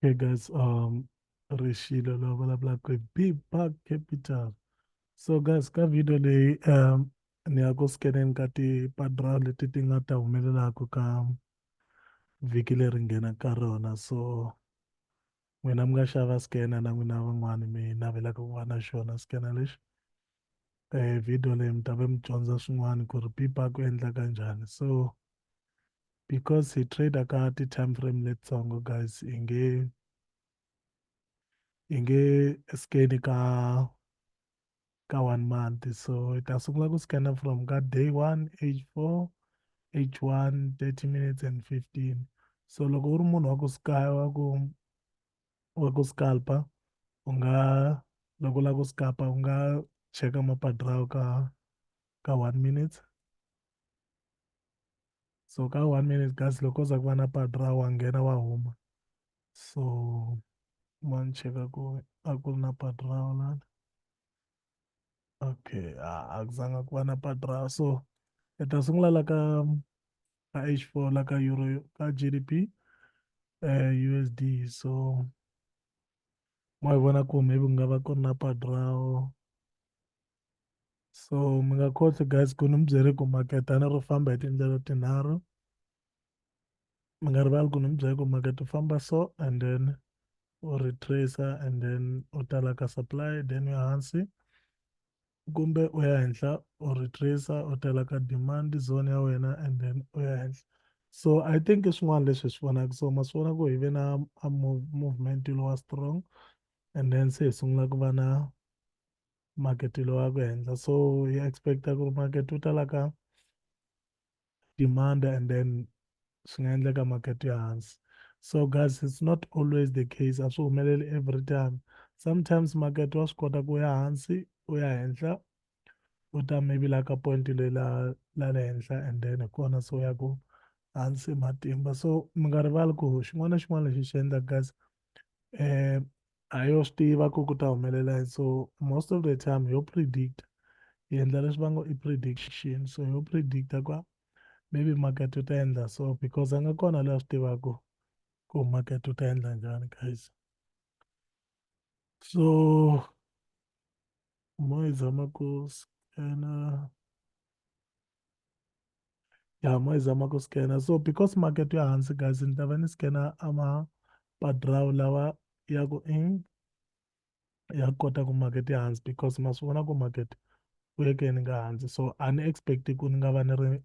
Okay, guys, um, Rishilo lo vulavula ku be back capital. So guys, ka video leyi um ni ya ku scaneni ka ti-padra leti ti nga ta humelelaka ka vhiki leri nghenaka ka rona. So n'wina mi nga xava scanner na n'wina van'wani mi navelaka ku va na xona scanner lexi eh video leyi mi ta va mi dyondza swin'wana ku ri pipa ku endlaka njhani so because hi trader ka ti-time frame letitsongo guys hi nge hi nge skeni ka ka one month so hi ta sungula ku scanner from ka day one age four age one thirty minutes and fifteen so loko u ri munhu wa ku wa ku wa ku scalpa u nga loko u lava ku scalpa u nga cheka mapadrawo ka ka one minute so ka one minute kasi loko u za ku va na padra wa nghena wa huma so ma ni cheka ku a ku ri na padrao lana okay a ku zanga ku va na padrao so hi ta sungula la ka ka h four la ka euro ka g d p um eh, u s d so mo hi vona ku maybe ku nga va ku ri na padrao so mi nga khotsi guys ku ni mi byele ku maketana ro famba hi tindlela tinharhu mi nga rivali ku ni mi byele ku makete u famba so and then u retrace and then u tala ka supply then u ya hansi kumbe u ya henhla u retrace u tala ka demand zone ya wena and then u ya henhla so i think i swin'wana leswi hi swi vonaka so ma swi vona ku hi ve na a movement lowa strong and then se hi sungula ku va na market lowu ya ku henhla so hi expect-a ku ri market wu tala ka demand and then swi nga endleka market ya hansi so guys it's not always the case a swi humeleli every time sometimes market wa swi kota ku ya hansi u ya henhla u ta maybe la ka point le la la le henhla and then hi kona so ya ku hansi matimba so mi nga rivali ku xin'wana na xin'wana lexi xi endlaka guys um a yo swi tiva ku ku ta humelela yini so most of the time yo predict yi endla leswi va ngo i prediction so yo predicta kwa maybe market wu ta endla so because a nga kona loyi a swi tivaka ku market wu ta endla njhani guys so mo yi zama ku scana ya mo yi zama ku scanner so because market ya hansi guys ni ta va ni scanner ama padraw lawa ya ku in ya kota ku market ya hansi because ma swi vona ku market u yeke ni nga hansi so a ni expect ku ni nga va ni ri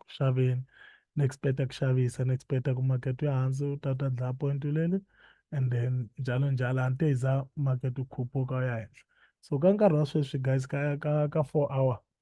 ku xaveni ni expecta ku xavisa ni expecta ku market ya hansi u ta ta dlaya point leli and then njalo njalo a ni te yi za market u khuphuka u ya henhla so ka nkarhi wa sweswi guys ka ka ka four hour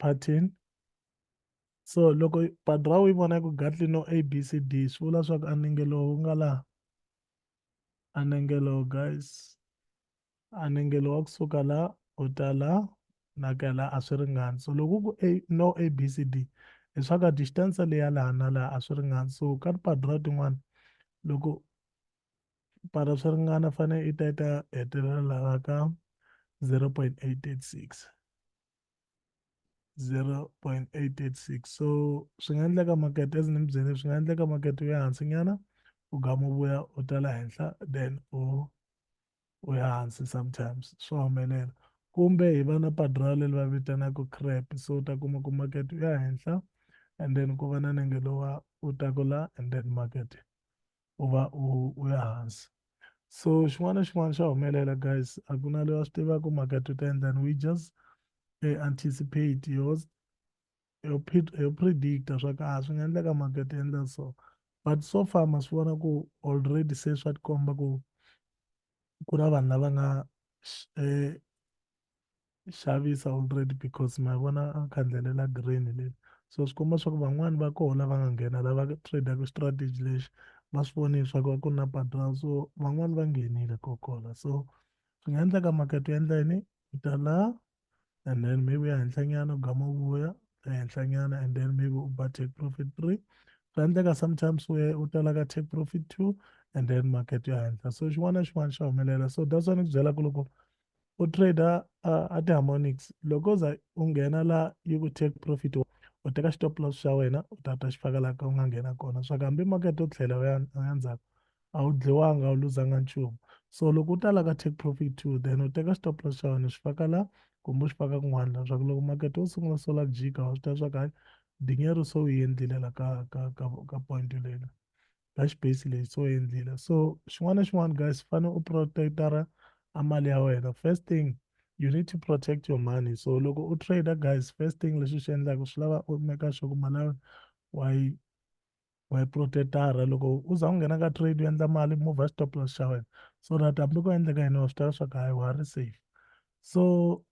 pattern so loko badra u yi vona yi ku gatli no a b c d swi vula swa ku anenge lowu wu nga laha anenge lowu guys anenge lowu wa kusuka la u ta la na ka la a swi ringani so loko ku a no a b c d hi swa ka distance leya laha na laha a swi ringani so ka tipadra tin'wana loko para swi ringana fanele i ta yi ta hetelela laha ka 0.886 0.886 so swi nga endleka market as ni mi byele swi nga endleka market u ya hansi nyana u gama u vuya u tala henhla then u u ya hansi sometimes swa humelela kumbe hi va na padra leri va vitanaka crap so u ta kuma ku market u ya henhla and then ku va na nenge lowa u taku la and then market u va u u ya hansi so xin'wana na xin'wana xa humelela guys a ku na loyi a swi tivaka makete u ta endlani we just eh, anticipate yo yo yo predicta swa ku a ah, swi nga endleka makete endla so but so far ma swi vona ku already se swa tikomba ku ku na vanhu lava nga eh, xavisa already because ma vona a khandlelela green leli so swi komba swa ku van'wani va koho lava nga nghena lava tradaka strategy lexi va swi voni swa ku ku na padral so van'wani va nghenile kokola so swi nga endleka market u endla yini u ta la and then maybe ya henhlanyana u gama vuya ya henhlanyana and then maybe u ba take profit three swi endleka sometimes we u tala ka take profit two and then market ya henhla so xin'wana na xin'wana xa humelela so that's why ni ku byela ku loko u trader uh, a ti-harmonics loko u za u nghena la yi ku take profit u teka stop loss xa wena u ta ta xi faka laha ka u nga nghena kona swa ku hambi market u tlhela u ya ndzhaku a wu dliwanga u luzanga nchumu so loko u ta la ka take profit two then u teka stop loss xa wena u xi faka la kumbe u xi faka kun'wana la swa ku loko market wo sungula sola ku jika wa swi tiva swa ku hayi dinyeru so u yi endlile la ka ka ka ka point leyina dash base leyi so endlile so xin'wana na xin'wana guys fane u protectara a mali ya wena first thing you need to protect your money so loko u trade guys first thing lexi xi endlaka swi lava u meka sure ku mali ya wena wa yi wa yi protectara loko u za u nghena ka trade u endla mali move stop loss xa wena so that hambi ku endleka yini wa swi tiva swa ku hayi wa ri safe so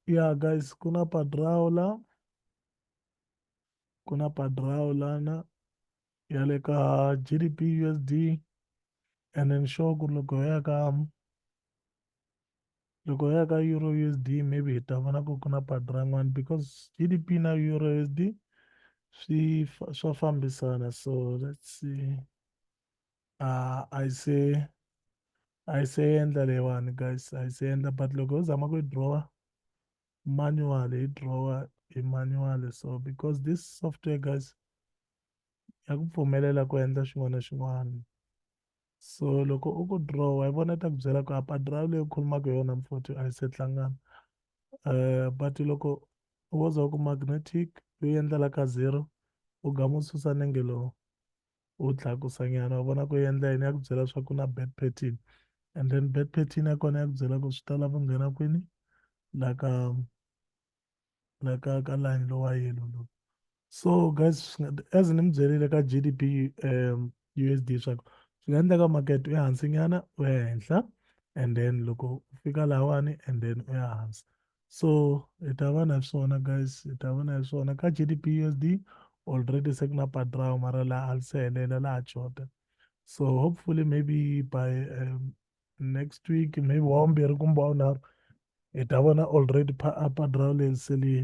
yeah guys ku na padrao la ku na padrao lana ya le ka GDP USD and then sure ku loko ya ka loko ya ka euro usd maybe hi ta vona ku ku na patu rin'wana because gdp na euro usd swi swa fambisana so let's see uh, i say i say endla leyiwani guys i say endla but loko u zama ku yi drawa manual hi drawa hi manual so because this software guys ya ku pfumelela ku endla xin'wana na xin'wana so loko u ku draw wa yi vona ta ku byela ku apa draw leyi u khulumaka hi yona mfoti a yi se hlangana um but loko u wo za ku magnetic yo endlela ka zero u ga mu susa nenge lowu u tlakusa nyana u vona ku endla yini ya ku byela swa ku na bad pattern and then bad pattern ya kona ya ku byela ku swi ta lava ku nghena kwini la ka la ka ka line lowa yellow lowu so guys as ni mi byelile ka GDP um USD swa ku swi nga endleka market u ya hansi nyana u ya henhla and then loko u fika lawani and then u ya hansi so hi ta va na swona guys hi ta va na swona ka GDP USD already se ku na padrao mara laha a li se helela laha jota so hopefully maybe by um, next week maybe wawumbirhi kumbe wawunharhu hi ta vona already padrao leri se li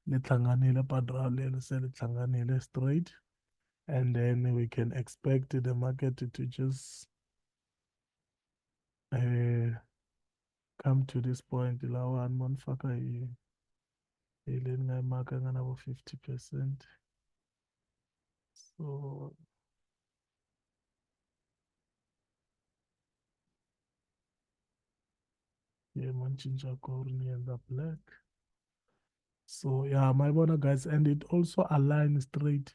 li hlanganile padrao leri se li hlanganile straight and then we can expect the market to just uh, come to this point lawa ni vona faka hi hi le ni nga yimaka nga na vo fifty percent so Yeah, man, change our color in the black. So yeah, my bona guys, and it also aligns straight.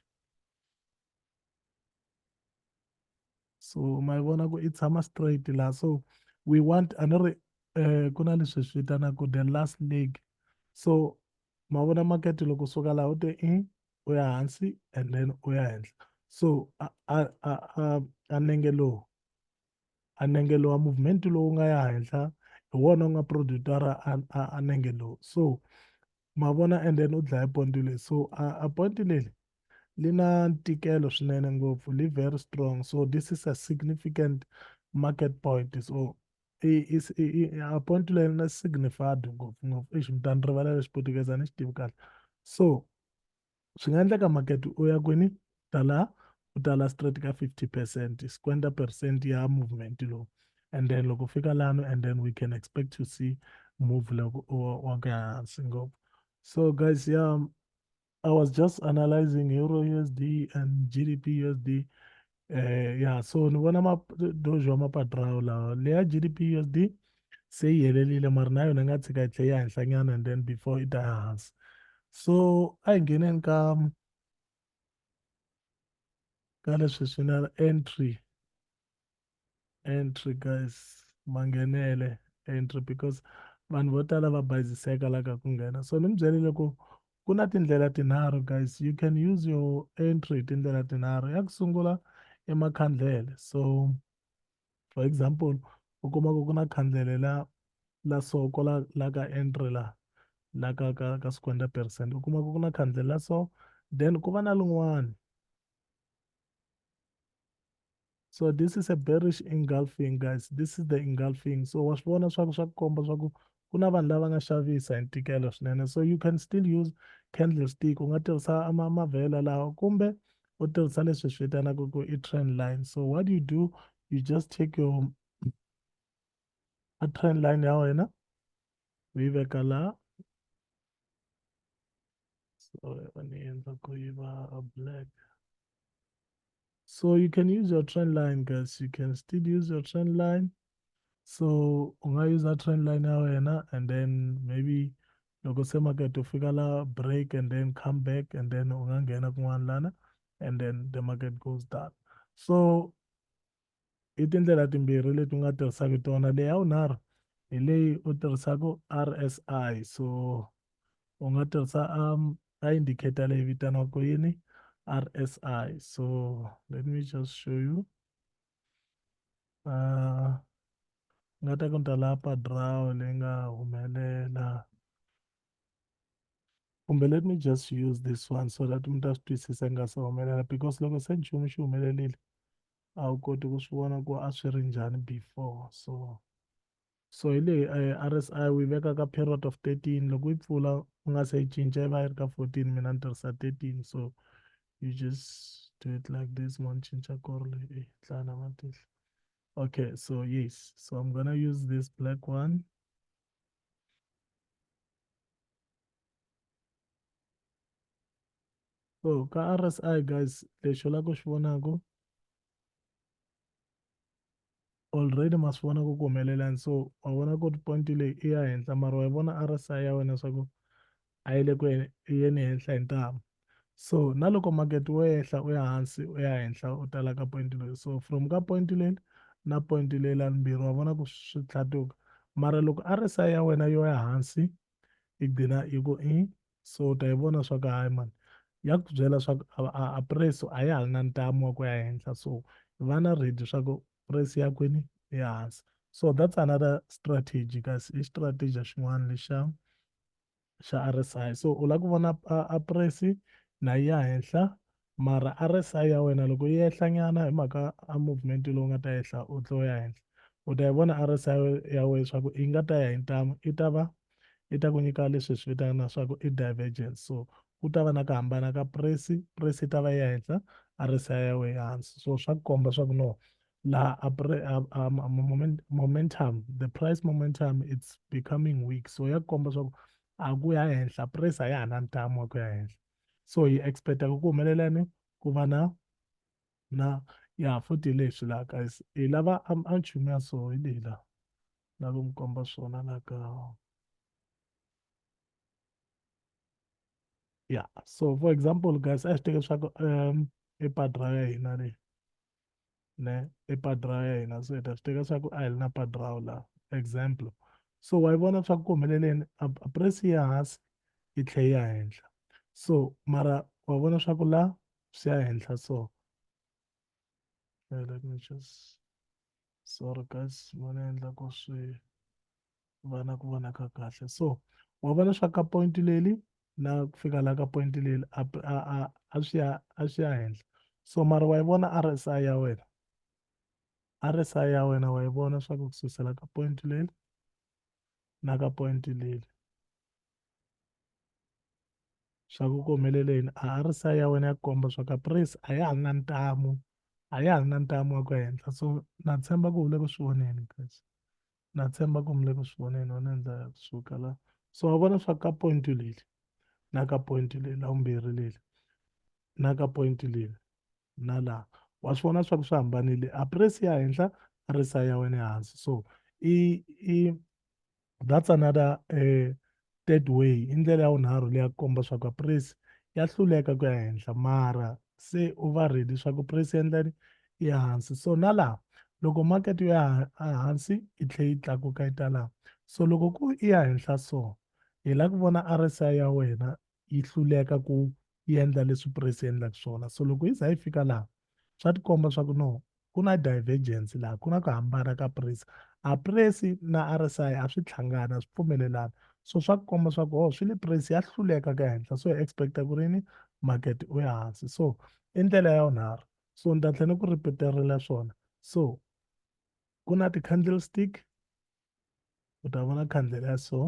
So my bona go it's hammer straight la. So we want another uh kuna leswi swi vitanaka the last leg. So mavona market loko suka laha u te i u ya hansi and then u ya henhla so a a a a nenge lowu a nenge lowa movement lowu nga ya henhla hi wona u nga producer-a a nenge lowu so ma vona and then u dlaya ponti leyi so a ponti leli li na ntikelo swinene ngopfu li very strong so this is a significant market point so a ponti leyi na signified ngopfu ngopfu exi mutani rivala lexi portuguese a ni xi tivi kahle so swi nga endleka makete u ya kwini tala u tala straight ka 50 percent squenta percent ya movement lowu and then loko fika lano and then we can expect to see move loko wa ka hansi ngopfu so guys yeah i was just analyzing euro usd and gdp usd eh ya so ni vona madojo mapatrawo lawa leya gdp usd se yi helelile mara na yona yi nga tshika yi tlhe yi henhlanyana and then before yi ta ya hansi so a hi ngheneni ka ka leswi swi na entry entry guys manghenele entry because vanhu vo tala va bayiziseka la ka ku nghena so ni mi byerile ku ku na tindlela tinharhu guys you can use your entry hi tindlela tinharhu ya ku sungula i makhandlele so for example u kuma ku ku na khandlele la la so ko la la ka entry la la ka ka ka swikwenda percent u kuma ku ku na khandlele la so then ku va na lin'wana So this is a bearish engulfing guys. This is the engulfing. So wa swi vona swa ku swa ku komba swa ku ku na vanhu lava nga xavisa hi ntikelo swinene. So you can still use candlestick. U nga tirhisa ma mavhela lawa kumbe u tirhisa leswi swi vitanaka ku i trend line. So what you do, you just take your a trend line ya wena u yi veka la so va ni endla ku yi va black so you can use your trend line guys you can still use your trend line so u nga user trend line ya wena and then maybe loko se market u fika la break and then come back and then u nga nghena kun'wana lana and then the market goes down so i tindlela timbirhi leti u nga tirhisaka tona leyi ya vunharhu hi leyi u tirhisaka RSI so u nga tirhisa um, a indicator leyi vitaniwaka yini RSI so let me just show you uh, nga ta ku ni ta lapa draw leyi nga humelela kumbe let me just use this one so that mi ta swi twisisa nga se humelela because loko se nchumu xi humelelile a wu koti ku swi vona ku a swi ri njhani before so so hi leyi eh, RSI u yi veka ka period of 13 loko yi pfula u nga se yi cinca yi va yi ri ka 14 mina ni tirhisa 13 so you just do it like this mo ni cinca korle e eh, tlana matihlo okay so yes so i'm gonna use this black one so ka RSI guys lexi u lava ku xi vonaka already ma swi vona ku ku humelelani so wa vona ku ri point leyi i ya henhla mara wa yi vona RSI ya wena swa ku a yi le ku yeni henhla hi ntamu so na loko market wo ehla u ya hansi u ya henhla u tala ka point leyi so from ka point leli na point leyi la limbirhi wa vona ku swi tlhatuka mara loko RSI ya wena yo ya hansi yi gcina yi ku i so ta yi vona swa ku hayi mani ya ku byela swa ku a price a ya ha ri na ntamu wa ku ya henhla so va na ready swa ku price ya kwini ehansi so that's another strategy kasi i strategy xin'wana lexa xa RSI so u lava ku vona a price na ya henhla mara RSI ya wena loko yi ehlanyana hi mhaka a movement lowu nga ta ehla u tlo ya henhla u ta yi vona RSI ya wena leswaku yi nga ta ya hi ntamu yi ta va yi ta ku nyika leswi hi swi vitanaka leswaku i divergence so ku ta va na ku hambana ka price price yi ta va ya henhla RSI ya wena hansi so swa ku komba swa ku no laha a momentum the price momentum it's becoming weak so ya ku komba swa ku a ku ya henhla price a ya ha na ntamu wa ku ya henhla so hi expect-a ku ku humelela ni ku va na na ya futhi hi leswi laha guys hi lava a a nchumu ya so hi leyi laha na ku mi komba swona laha ka ya so for example guys a hi swi teke leswaku um i padra ya hina leyi ne i padi ra ya hina so hi ta swi teka swa ku a hi ri na padi rawo laha example so wa yi vona swa ku humeleleni a price ya hansi yi tlhe yi ya henhla so mara wa vona swa ku la swi ya henhla so let me just sorry guys ma ni endla ku swi va na ku vona ka kahle so wa vona swa ka point leli na ku fika la ka point leli a a a swi ya a swi ya henhla so mara wa yi vona RSI ya wena RSI ya wena wa yi vona swa ku kususela ka point leli na ka point leli swa ku ku humelele yini a RSI ya wena ya komba swa ka price a ya ha ri na ntamu a ya ha ri na ntamu wa ku henhla so na tshemba ku u le ku swi voneni guys na tshemba ku mi le ku swi voneni wona hi ndlela ya ku suka la so wa vona swa ka point leli na ka point leli la vumbirhi leli na ka point leli na la wa swi vona swa ku swi hambanile a press ya henhla a ri sa ya wena ehansi so i i that's another eh, Third way i ndlela ya vunharhu leyi ya ku komba swa ku price ya hluleka ku ya henhla mara se u va ready swa ku price ya endlani i ya hansi so na laha loko market yo ya hansi yi tlhe yi tlakuka yi ta laha so loko ku i ya henhla so hi la ku vona RSI ya wena yi hluleka ku yi endla leswi press yi endlaka swona so loko yi za yi fika laha swa tikomba swa ku no ku na divergence laha ku na ku hambana ka press a press na RSI a swi tlhangana swi pfumelelana so swa ku komba swa ku oh swi le press ya hluleka ka henhla so hi expecta ku ri ni market u ya hansi so i ndlela ya unharhu so ni ta tlhela ni ku repeterela swona so ku na ti-candlestick u ta vona khandlela ya so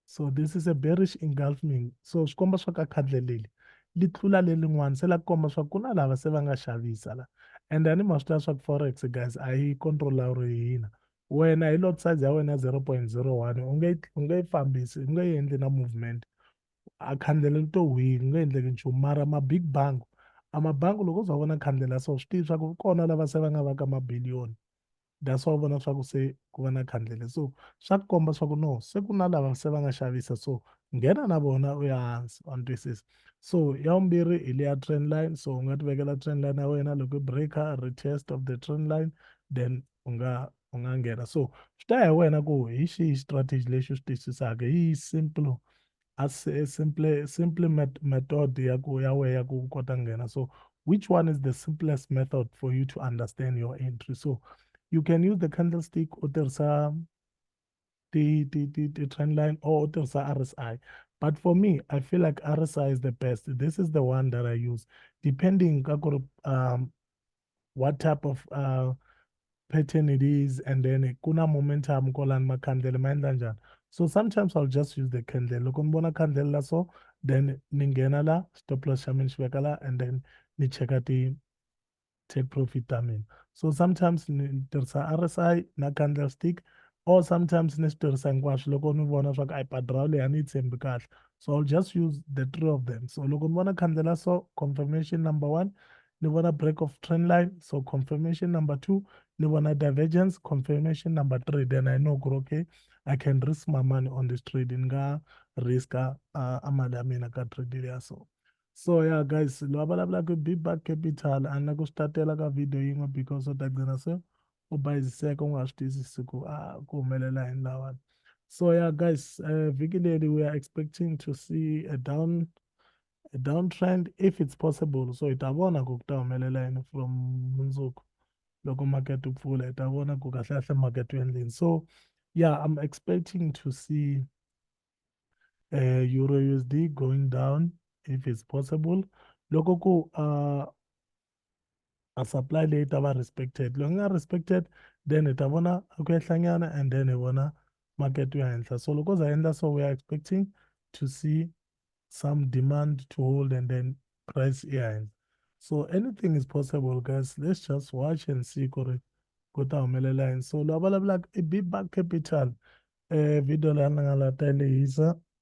so this is a bearish engulfing so swi komba swa ka khadle leli li tlula lelin'wana se la komba swa ku na lava se va nga xavisa la and a ni ma swi tiva swa ku forex guys a yi controlawuri hina wena hi lot size ya wena ya 0.01 u nge u nge yi fambisi u nge yi endli na movement a khandlela li to hwini u nge endleki nchumu mara ma-big bank a mabangi loko u za vona khandlela so swi tivi swa ku kona lava se va nga va ka mabiliyoni that's why u vona swa ku se ku va na khandlele so swa ku komba swa ku no se ku na lava se va nga xavisa so nghena na vona u ya hansi wa ni twisisa so ya vumbirhi hi leya train line so u nga ti vekela train line ya wena loko i breaker retest of the train line then u nga u nga nghena so swi ta ya hi wena ku hi xihi strategy lexi u xi twisisaka hi simple a simple simple met method ya ku ya we ya ku kota nghena so which one is the simplest method for you to understand your entry so you can use the candlestick u tirhisa ti ti ti ti trend line or u tirhisa RSI but for me I feel like RSI is the best this is the one that I use depending ka ku um what type of uh, pattern it is and then kuna momentum kolani makhandlela ma endla njani so sometimes i'll just use the candle loko ni vona candle la so then ni nghena la stop loss xa mina xi veka la and then ni cheka ti take profit ta mina so sometimes ni tirhisa rsi na candle stick or sometimes ni swi tirhisa hinkwaswo loko ni vona swa ku a yi padrawu leyi a ni yi tshembi kahle so i'll just use the three of them so loko ni vona candle la so confirmation number one ni vona break of trend line so confirmation number two ni vona divergence confirmation number three then i know ku ri okay i can risk my money on this trade ni nga riska uh, a mali ya mina ka trade leya so so ya yeah, guys loyi a vulavulaka bibak capital a ni la ku swi tatela ka video yin'we because u ta gcina se u bayiziseka u nga swi tiyisisi ku a ah, ku humelela yini lawani so ya yeah, guys uh, vhiki leri we are expecting to see a down a downtrend if it's possible so hi ta vona ku ku ta humelela yini from mundzuku loko market wu pfula hi ta vona ku kahle kahle market wu endleni so yeah i'm expecting to see uh, euro usd going down if it's possible loko ku uh, a supply leyi ta va respected loko nga respected then hi ta vona a ku ehlanyana and then hi vona market ya henhla so loko za endla so we are expecting to see some demand to hold and then price ya henhla so anything is possible guys let's just watch and see ku ri ku ta humelela yini so loyi a vulavulaka i bba capital um video leyi a ni nga la ta yi lehisa